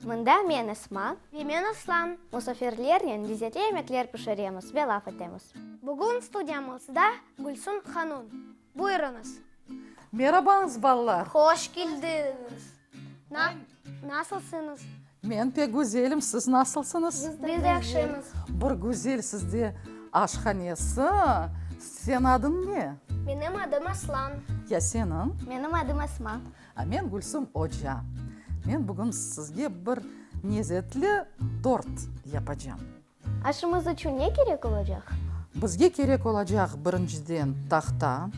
Mında men Esma. Ve men Aslan. Musafirlernen lezzetli yemekler pişiremiz ve laf etemiz. Bugün studiyamızda Gülsüm hanum. Buyurıñız. Merabañız, balalar! Hoş keldiñiz! Na, nasılsıñız? Men pek güzelim, siz nasılsıñız? Biz de yahşımız. Bir güzel sizde aşhanesi. Señ adıñ ne? Menim adım Aslan. Ya seniñ? Menim adım Esma. Men Gülsüm oca. Men bugün sizge bir nezetli tort yapacam. Aşımız içün ne kerek olacaq? Bizge kerek olacaq birinciden tahta,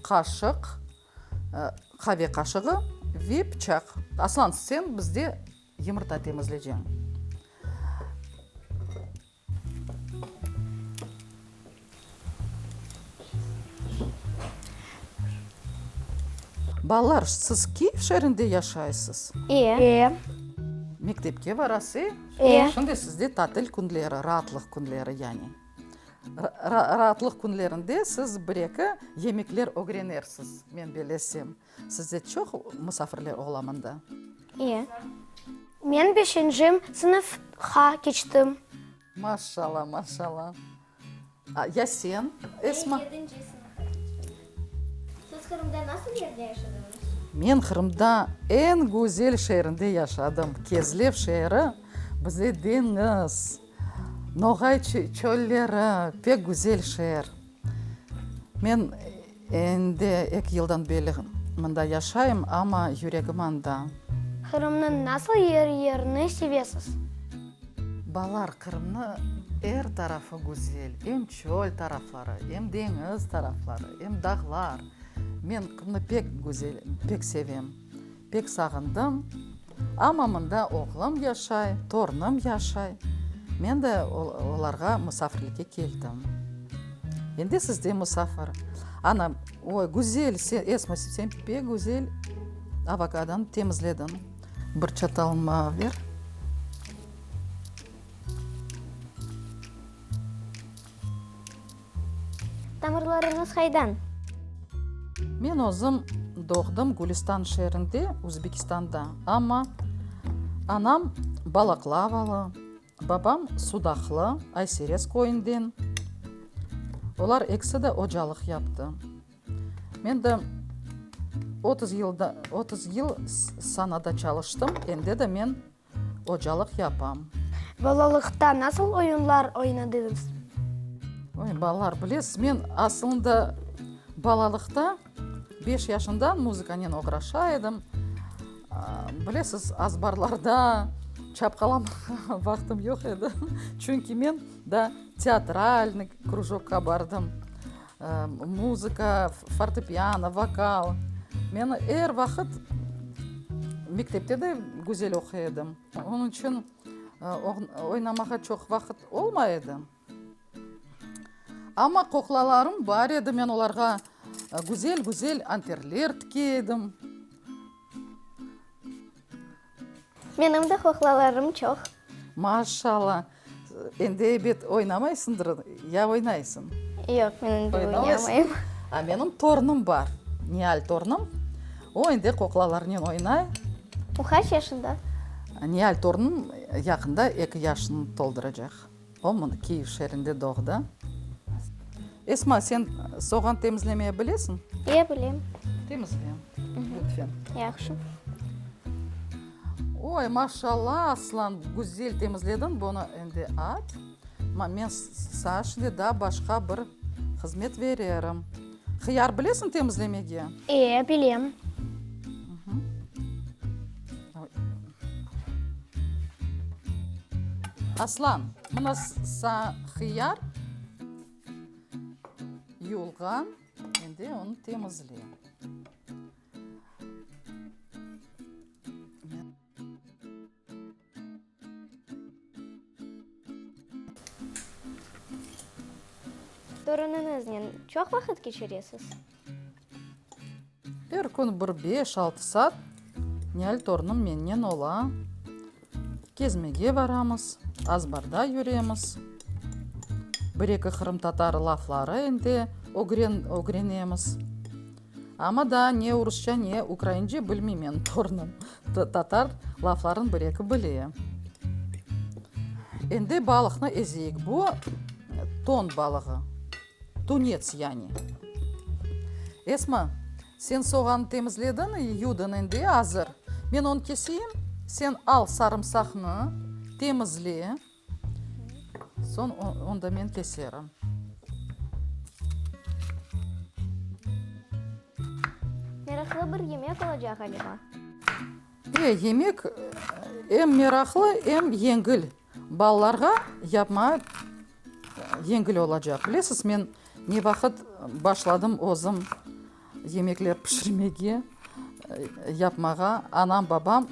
qaşıq, qave qaşığı ve pıçaq. Aslan, sen bizde yımırta temizleceñ. Balalar, siz Kyiv şeerinde yaşaysız? E. Mektepke barasız, e? E. Şimdi sizde tatil künleri, raatlıq künleri yani. Raatlıq künlerinde siz bir-eki yemekler ögrenersiz, men belesem. Sizde çoq musafirler olamında? İye. Men beşincim sınıfqa keçtim. Maşalla, maşalla. Ya sen, Esma? Men yedinci sınıfqa keçtim. Siz Qırımda nasıl yerde yaşadınız? Men Qırımda eñ güzel şeerinde yaşadım. Kezlev şeeri bize deñiz, Noğay çölleri, pek güzel şeer. Men. Endi eki yıldan beri mında yaşayım, amma yüregim anda. Qırımnıñ nasıl yer-yerini sevesiz? Balalar, Qırımnıñ er tarafı güzel, em çöl tarafları, em deñiz tarafları, em dağlar. Men Qımnı pek güzel, pek sevem. Pek sağındım. Amma mında oğlum yaşay, torunım yaşay. Men de olarğa musafirlikke keldim. Endi siz de musafir. Ana, oy, güzel, sen, Esma, sen pek güzel avokadanı temizlediñ. Bir çatal mağa ber. Tamırlarıñız qaydan? Men özüm doğdım Gülüstan şeerinde, Özbekistanda. Amma anam Balaklavalı, babam Sudaqlı, Ayserez köyünden. Olar ekisi de ocalıq yaptı. Men de otuz yıl sanada çalıştım, endi de men Ocalıq yapam. Balalıqta nasıl oyunlar oynadıñız? Oy, balalar, bilesiz, men asılında balalıqta beş yaşımdan muzıkanen oğraşa edim. Bilesiz, azbarlarda çapqalamağa vaqtım yoq edi. Çünki men daa teatralnıy krujokqa bardım. Muzıka, fortepiano, vokal. Men er vaqıt mektepte de güzel oquy edim. Onıñ içün oynamağa çoq vaqıt olmay edi. Amma kuklalarım bar edi, men olarğa güzel-güzel anterler tikey edim. Menim de qoqlalarım çoq. Maşalla! Endi, ebet, oynamaysındır, ya oynaysıñ? Yoq, men endi oynamayım. A menim torunım bar, Nihal torunım. O, endi qoqlalarınen oynay. O, qaç yaşında? Nihal torunım yaqında eki yaşını tolduracaq. O mını Kiyev şeerinde doğdı. Esma, sen soğan temizlemeye bilesiñ? E, bilem. Temizle, lütfen. Yahşı. Oy, maşallah, Aslan, güzel temizlediñ, bunı endi at. Ma, men saşne daa başqa bir hızmet vererim. Hıyar bilesiñ temizlemege? E, bilem. Aslan, mına saña hıyar, yuvulğan, endi onı temizle. Torunıñıznen çoq vaqıt keçiresiz? Er kün bir beş-altı saat Nihal torunım mennen ola. Kezmege baramız, azbarda yüremiz, bir-eki qırımtatar lafları endi ögrenemiz. Amma daa ne urusça, ne ukraince bilmeymen, torunım tatar lafların bir-eki bile. Endi balıqnı ezeyik. Bu ton balığı, tunets yani. Esma, sen soğanı temizledin, yudın endi, azır. Men onı keseyim, sen al sarımsaqnı, temizle. Soñ onda men keserim. Meraqlı bir yemek olacaq ğaliba. E, yemek em meraqlı, em yengil. Balalarğa yapmağa yengil olacaq. Bilesiz, men ne vaqıt başladım özüm yemekler pişirmege, yapmağa. Anam, babam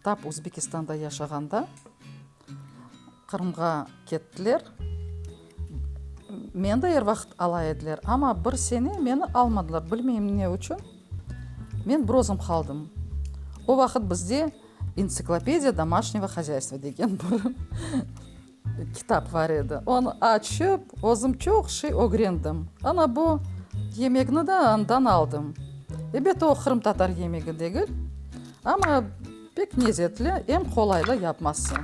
Tap Uzbekistanda yaşağanda Qırımğa kettiler. Meni de er vaqıt ala ediler, amma bir sene meni almadılar, bilmeyim ne içün. Men bir özüm qaldım. O vaqıt bizde Entsiklopediya domaşnıvo hozâystvo degen bir Kitap bar edi. Onı açıp, özüm çoq şey ögrendim. Ana bu yemekni de andan aldım. Ebet, o qırımtatar yemegi degil, amma pek nezetli, em qolaylı yapması.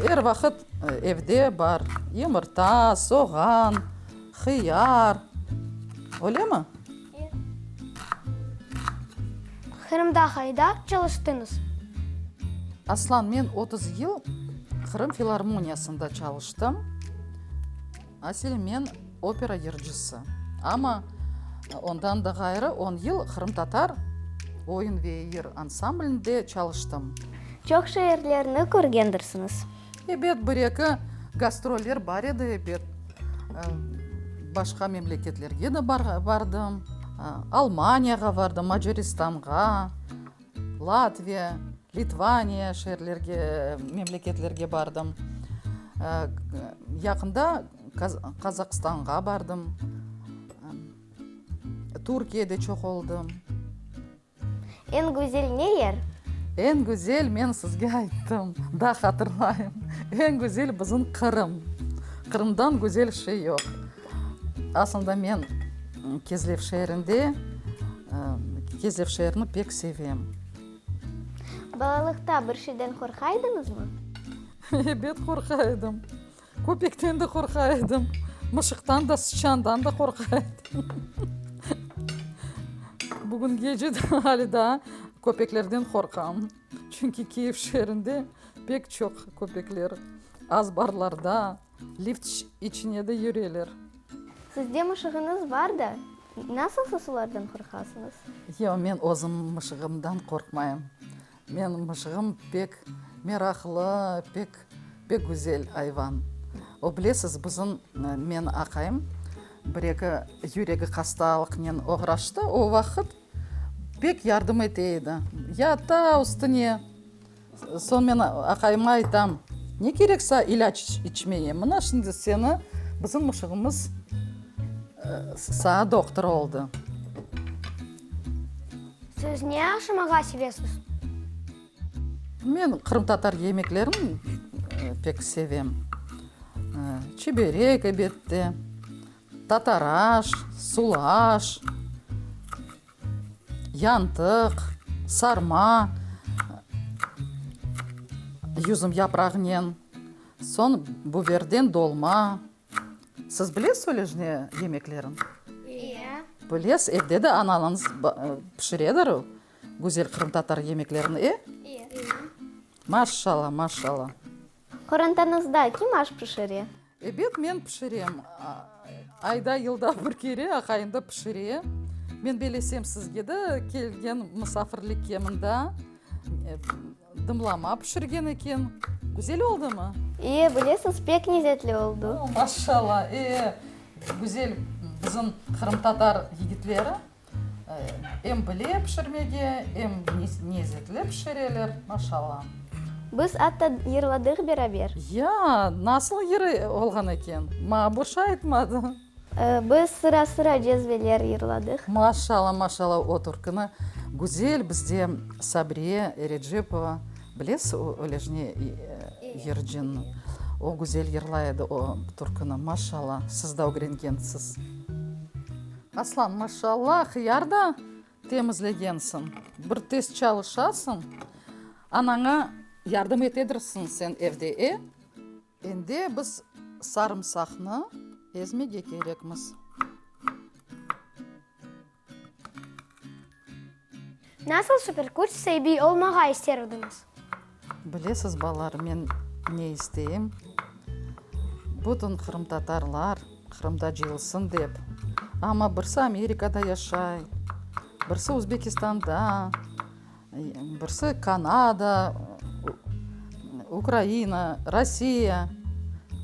Er vaqıt evde bar, yımırta, soğan, hıyar. Öylemi? Qırımda qayda çalıştıñız? Aslan, men otuz yıl Qırım filarmoniyasında çalıştım. Asli men opera yırcısı. Amma ondan da ğayrı on yıl qırımtatar oyun ve yır ansamblinde çalıştım. Çoq şeerlerni körgendirsiñiz. Ebet, bir-eki gastroller bar edi, ebet. Başqa memleketlerge de bardım. Almaniyağa bardım, Macaristanğa, Latviya, Litvaniya şeerlerge, memleketlerge bardım. Yaqında Qazaqstanğa bardım. Türkiyede çoq oldım. Eñ güzel ne yer? Eñ güzel, men sizge ayttım, daa hatırlayım, eñ güzel bizim Qırım. Qırımdan güzel şey yoq. Aslında men Kezlev şeerinde, Kezlev şeerini pek sevem. Balalıqta bir şeyden qorqa edıñızmı? Ebet, qorqa edim. Köpekten de qorqa edim. Mışıqtan da, sıçandan da qorqa edim. Bugün gece de hâli daa köpeklerden qorqam. Çünki Kyiv şeerinde pek çoq köpekler azbarlarda, lift içine de yüreler. Sizde mışığıñız bar da, nasıl siz olardan qorqasıñız? Yoq, men özüm mışığımdan qorqmayım. Menim mıjğım pek meraqlı, pek, pek güzel ayvan. O, bilesiz, bizim, meni aqayım bir-eki yüregi hastalıqnen oğraştı, o vaqıt pek yardım ete edi, yata üstüne. Soñ men aqayıma aytam, ne kerek saña ilâc içmeye, mına şimdi seni bizim mıjğımız saña doktor oldı. Siz ne aşamağa sevesiz? Men qırımtatar yemeklerin pek sevem. Çiberek, ebette, tatar aş, sulu aş, yantıq, sarma, yüzüm yaprağınen, soñ, biberden dolma, Siz bilesiz ölejne yemeklerin? İya. Bilesiz, evde de ananız pişiredir güzel qırımtatar yemeklerin, e? İya. Maşşala, maşşala. Qorantanızda kim aş pişire? Ebet, men pişirem. Ayda, yılda bir kere aqayım da pişire. Men belesem sizge de kelgen musafirlikke mında. Dımlama pişirgen eken. Güzel oldımı? İyi, bilesiz, pek lezetli oldu. O, maşallah! E, güzel bizim qırımtatar yigitleri em bile pişirmege, em lezetli pişireler, maşallah. Biz atta yırladıq beraber. Ya, nasıl yırı olğan eken? Maña bir şey aytmadı. Biz sıra-sıra cezveler yırladıq. Maşalla, maşalla, o türkini güzel bizde Sabriye Recepova, bilesiz o Ölejne yırcını, o güzel yırlay edi o türkini, maşalla, siz da ögrengensiz. Aslan, maşalla, hıyar da temizlegensiñ, bir tez çalışasıñ, anaña yardım etedirsiñ sen evde, e? Endi biz sarımsaqnı ezmege kerekmiz. Nasıl superkuç saibi olmağa ister ediñiz? Bilesiz, balalar, men ne isteyim? Bütün qırımtatarlar Qırımda cıyılsın dep. Amma birsi Amerikada yaşay, birsi Uzbekistanda, Birsi Kanada, Ukraina, Rossiya.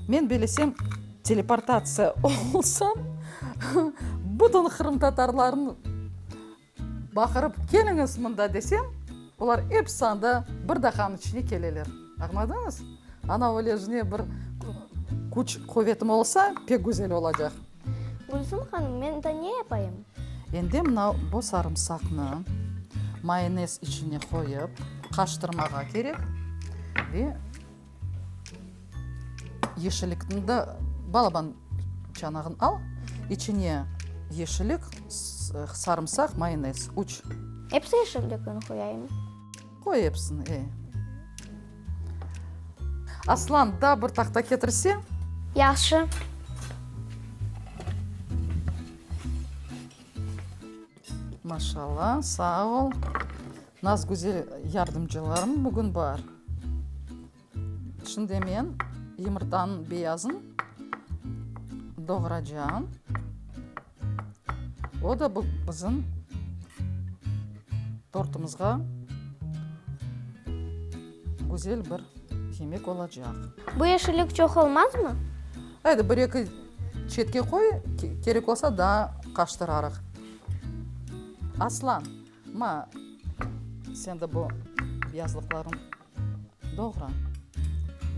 Men bilesem, teleportatsiya olsam, bütün qırımtatarlarnı baqırıp, keliñiz mında desem, olar episi anda bir daqanıñ içine keleler. Añladıñız? Ana, öyle bir küç-quvetim olsa, pek güzel olacaq. Gülsüm hanım, men da ne yapayım? Endi mına bu sarımsaqnı mayonez içine qoyıp qaştırmağa kerek ve yeşillikni da, balaban çanağın al, içine yeşillik, sarımsaq, mayonez, üç. Epsi yeşillikni qoyayım? Qoy episini, e. Aslan, daa bir tahta ketirseñ. Yahşı. Maşallah, sağ ol. Nazgüzel yardımcılarım bugün bar. Şimdi men yumurtanıñ beyazın doğracam. O da bu bizim tortumızğa güzel bir yemek olacaq. Bu yeşillik çoq olmazmı? Haydi, bir eki çetke qoy, kerek olsa daa qaştırarıq. Aslan, ma, sen de bu beyazlıqlarıñ. Doğra.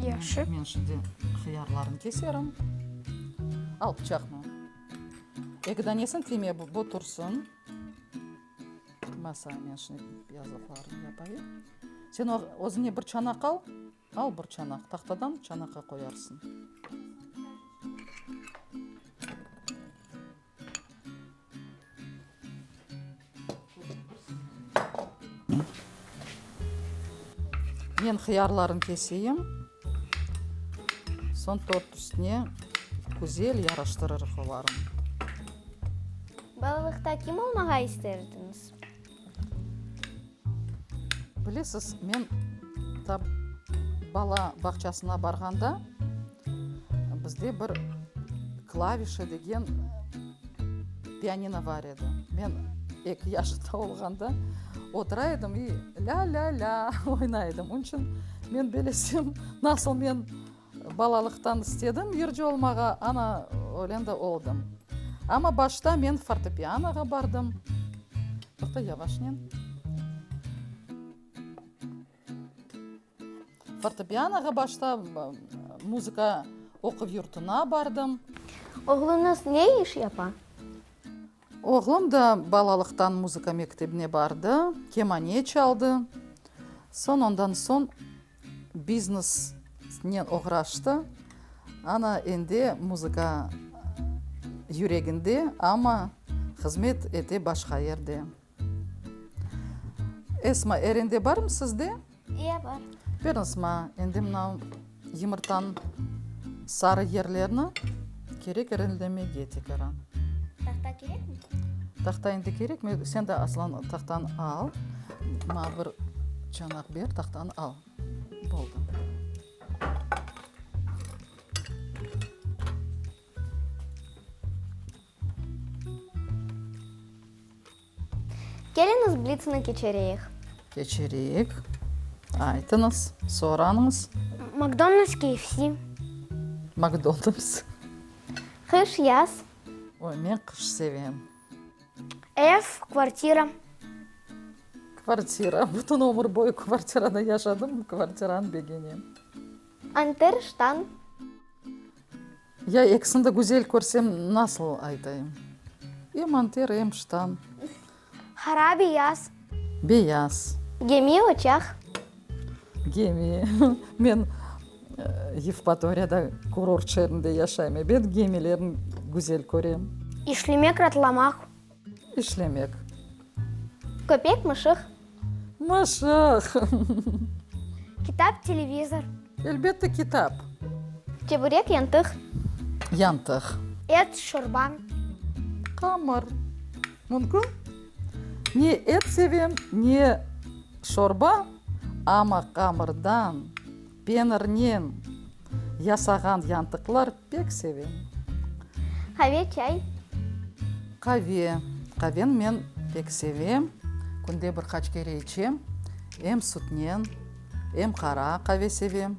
Yaşı. Men şimdi hıyarlarnı keserim. Al pıçaqnı. Eki danesini tiyme, bu tursın. Masa, men şimdi yazlıqlarnı yapayım. Sen özüne bir çanaq al. Al bir çanaq. Tahtadan çanaqqa qoyarsın. Men hıyarlarnı keseyim, soñ tort üstüne güzel yaraştırırıq olarnı. Balalıqta kim olmağa isterdiñiz? Bilesiz, men tab bala bağçasına barğanda, bizde bir klavişe degen pianino bar edi. Men eki yaşında olğanda otura edim i lâ-lâ-lâ oynay edim. Onıñ içün men belesem, nasıl men Balalıqtan istedim yırcı olmağa, ana, ölen de oldım. Amma başta men fortepianoğa bardım. Toqta, yavaşnen. Fortepianoğa başta muzıka oquv yurtuna bardım. Oğluñız ne iş yapa? Oğlum da balalıqtan muzıka mektebine bardı, kemane çaldı. Soñ ondan soñ biznesnen oğraştı. Ana, endi muzıka yüreginde, amma hızmet ete başqa yerde. Esma, er ende barmı sizde? İe, bar. Beriñiz maña endi mına yımırtanıñ sarı yerlerini kerek erenlemege tekrar. Tahta kerekmi? Tahta endi kerekmi? Sen de aslan tahtanı al. Maña bir çanaq ber, tahtanı al. Oldu. Keliñiz, blitsni keçireyik. Keçireyik. Aytıñız, sorañız. McDonald's, KFC. McDonald's. Qış, yaz. Oy, men qış sevem. Ev, kvartira. Kvartira. Bütün ömür boyu kvartirada yaşadım, kvartiranı begenem. Anter ştan. Ya ekisini de güzel körsem, nasıl aytayım? Em anter, em ştan. Hara beyaz. Beyaz. Gemi oçaq. Gemi. Men Yevpatoriyada kurort şeerinde yaşayım, ebet, gemilerni güzel körem. İşlemek, ratlamaq. İşlemek. Köpek, mışıq. Mışıq. Kitap, televizor. Elbette, kitap. Çeburek, yantıq. Yantıq. Et, şorba. Qamır. Mümkün. Ne et sevem, ne şorba, amma qamırdan. Penirnen yasağan yantıqlar pek sevem. Qave, çay? Qave. Qaveni men pek sevem. Künde bir qaç kere içem. Em sütnen, em qara qave sevem,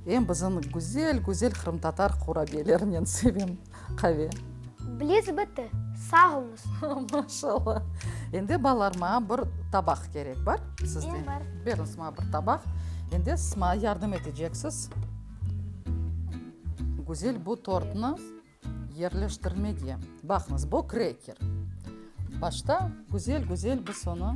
em bizim güzel-güzel qırımtatar qurabiyelerinen sevem. Qave. Bliz bitti. Sağolunız. Maşallah. Endi balalar maña bir tabaq kerek. Bar sizde? Bar. Beriñiz maña bir tabaq. Endi siz maña yardım eteceksiz Güzel bu tortnı yerleştirmege. Baqıñız, bu kreker. Başta güzel-güzel biz onı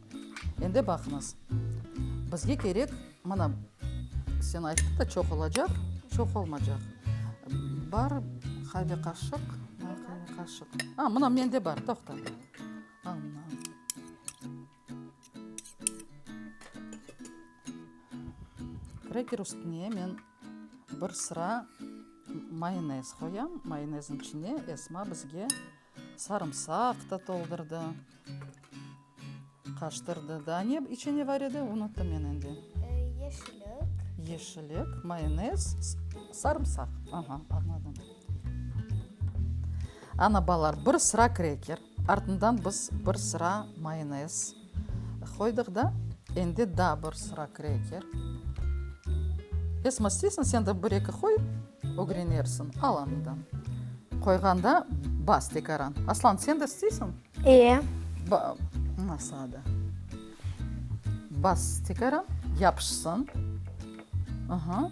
Endi baqıñız, bizge kerek, mana, sen ayttı da, çoq olacaq, çoq olmacaq. Bar, qave qaşıq, bar, qave qaşıq. A, mına, mende bar, toqta. Ana. Kreker üstüne men bir sıra mayonez qoyam, mayonezniñ içine Esma bizge Sarımsaq da toldurdı. Qaştırdı. Daa ne içi ne bar edi, unuttım men endi. Yeşillik. Yeşillik, mayonez, sarımsaq. Aha, añladım. Ana, balalar, bir sıra kreker, artından biz bir sıra mayonez. Qoydıq da, endi daa bir sıra kreker. Esma, isteysiñ, sen de bir-eki qoy, ögrenersiñ. Al andan. Qoyğanda bas tekaran. Aslan, sen de isteysiñ? Ee. Ba, mına saada. Bas tekaran, yapışsın. Aha.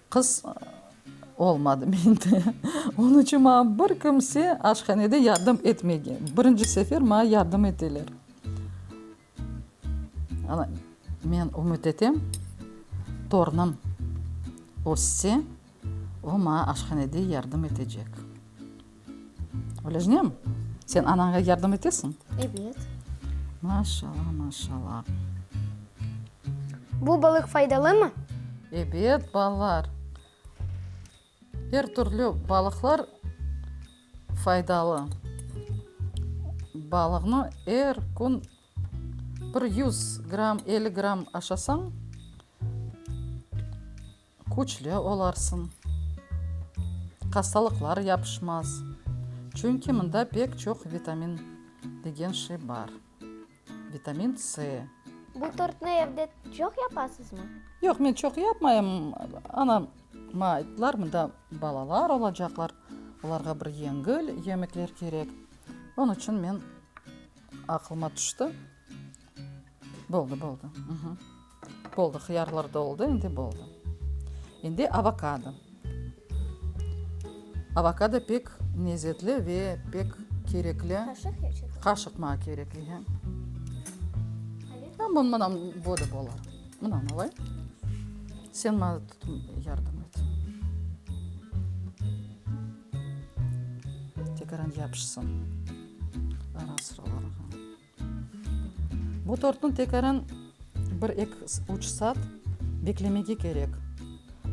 Qız, Olmadı mende. Onı içün maña bir kimse aşhanede yardım etmegen. Birinci sefer maña yardım eteler. Ana, men ümüt etem, torunım össe, o maña aşhanede yardım etecek. Olejnem, sen anaña yardım etesiñ? Ebet. Maşallah, maşallah. Bu balıq faydalımı? Ebet, balalar. Er türlü balıqlar faydalı. Balığnı er kün bir yüz gramm, elli gramm aşasañ, Küçlü olarsıñ, hastalıqlar yapışmaz, çünki mında pek çoq vitamin degen şey bar, vitamin C. Bu tortnı evde çoq yapasızmı? Yoq, men çoq yapmayım, anama ayttılar, mında balalar olacaqlar, olarğa bir yengil yemekler kerek, onıñ içün men, aqlıma tüşti. Boldı, boldı. Boldı, hıyarlar da oldı, endi boldı. Endi avokado. Avokado pek nezetli ve pek kerekli. Qaşıq ya çatal? Qaşıq maña kerek, ehe. Tam mına, mına boda bola. Mına alay. Sen maña tutıp yardım et. Tekaran yapışsın. Ara-sıralarğa. Bu tortnı tekaran bir eki üç saat beklemege kerek.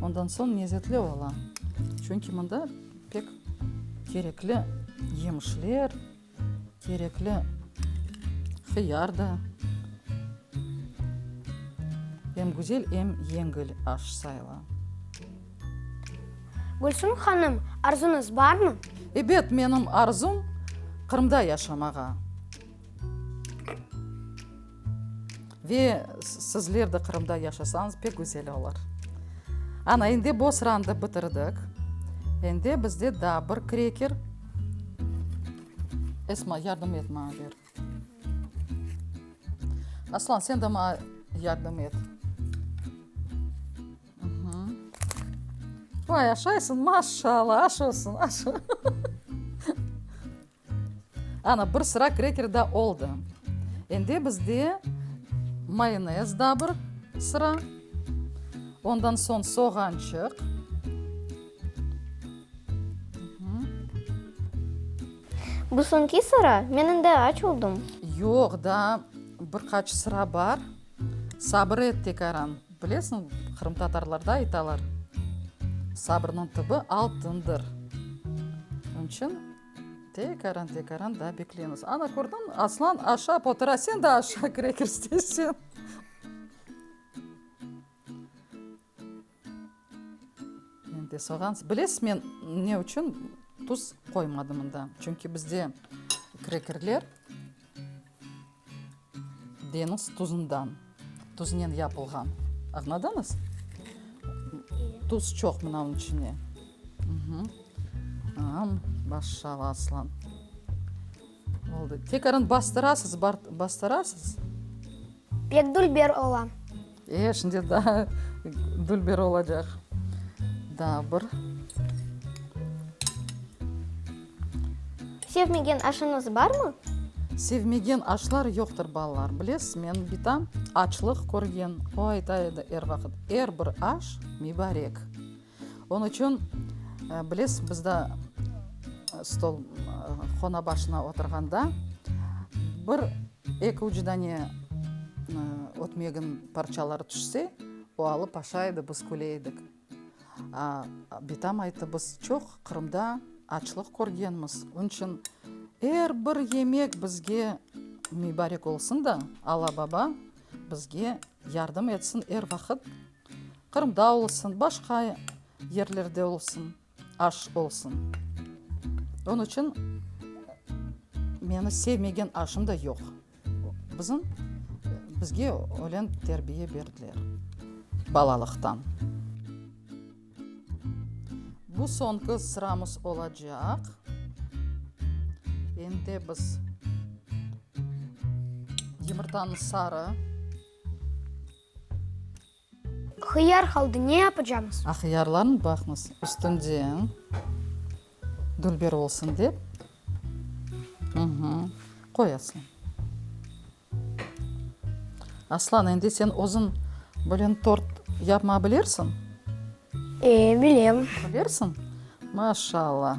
Ondan soñ lezetli ola. Çünki mında pek kerekli yemişler, kerekli hıyar da. Em güzel, em yengil aş sayıla. Gülsüm hanım, arzunız barmı? Ebet, menim arzum, Qırımda yaşamağa. Ve sizler de Qırımda yaşasañız pek güzel olar. Ana, endi bu sırandı bitirdik. Endi bizde daa bir kreker. Esma, yardım et maña, ber. Aslan, sen de maña yardım et. Vay, aşaysıñ, maşallah, aş olsun, aş. Ana, bir sıra kreker da oldı. Endi bizde mayonez da bir sıra. Ondan soñ soğançıq. Bu soñki sıra, men endi aç oldım. Yoq, daa bir qaç sıra bar. Sabır et, tekaran. Bilesiñ, qırımtatarlarda aytalar, Sabırnıñ tübi altındır. Onıñ içün tekaran, tekaran daa beklemiz. Ana, kördiñ, Aslan aşap otura, sen de aşağı kire kiristeysen. Endi soğan, bilesiz, men ne içün tuz qoymadım mında, çünki bizde krekerler deñiz tuzundan, tuznen yapılğan, añladınız? Tuz çoq mınanıñ içine. Maşallah, Aslan! Oldı. Tekrarın bastırasız, bastırasız. Pek dülber ola. E, şimdi daa dülber olacaq. Daa bir. Sevmegen aşıñız barmı? Sevmegen aşlar yoqtır, balalar. Bilesiz, men bitam açlıq körgen, o ayta edi er vaqıt, er bir aş mibarek. Onı içün, bilesiz, bizde stol qona başına oturğanda bir eki ucudan ne ötmegin parçaları tüşse, o alıp aşaydı, biz küleydik. Bitam ayttı, biz çoq Qırımda açlıq körgenmiz, onı içün er bir yemek bizge mübarek olsun da, Alla-Baba bizge yardım etsin, er vaqıt Qırımda olsun, başqa yerlerde olsun, aş olsun. Onıñ içün meni sevmegen aşım da yoq. Bizim, bizge ölen terbiye berdiler balalıqtan. Bu soñki sıramız olacaq. Endi biz yımırtanı sarı. Hıyar qaldı, ne yapacamız? Hıyarlarnı baqmız, üstünden dülber olsun dep, qoy Aslan. Aslan, endi sen özün bilen tort yapma bilirsin? E, bilem. Bilirsin? Maşallah!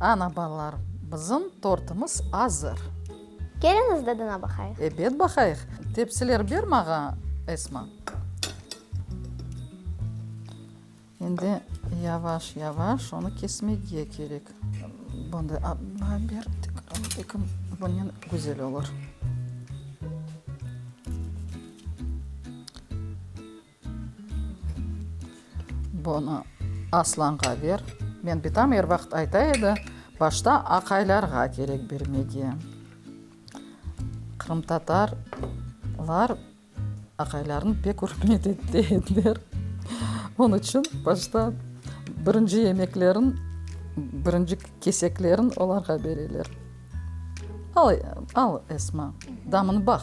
Ana, balalar, bizim tortımız azır. Keliñiz, dadına baqayıq. Ebet, baqayıq. Tepsiler ber maña, Esma. Endi yavaş-yavaş onı kesmege kerek. Bunday adına ber, tekim bunen güzel olur. Bunı Aslanğa ber. Men bitam er vaqıt ayta edi, başta aqaylarğa kerek bermege. Qırımtatarlar aqaylarını pek ürmet ete ediler. Onı içün başta birinci yemeklerin, birinci keseklerin olarğa bereler. Al, Esma, damını baq.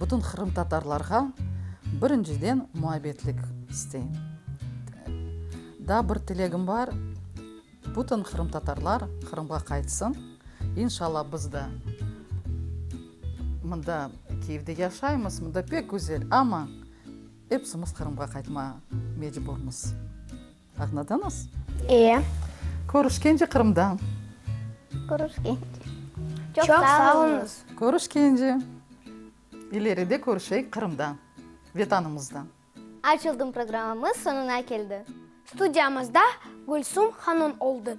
Bütün qırımtatarlarğa birinciden muabbetlik isteyim. Daa bir tilegim bar, bütün qırımtatarlar Qırımğa qaytsın. İnşalâ, biz de mında Kyivde yaşaymız, mında pek güzel, amma epsimiz Qırımğa qaytmağa mecburmız. Añladıñız? Ee. Körüşkence Qırımda. Körüşkence. Çoq sağ oluñız. Körüşkence. İleride körüşeyik Qırımda, Vetanımızda. Açıldım programamız soñuna keldi. Studiyamızda Gülsüm hanım oldı.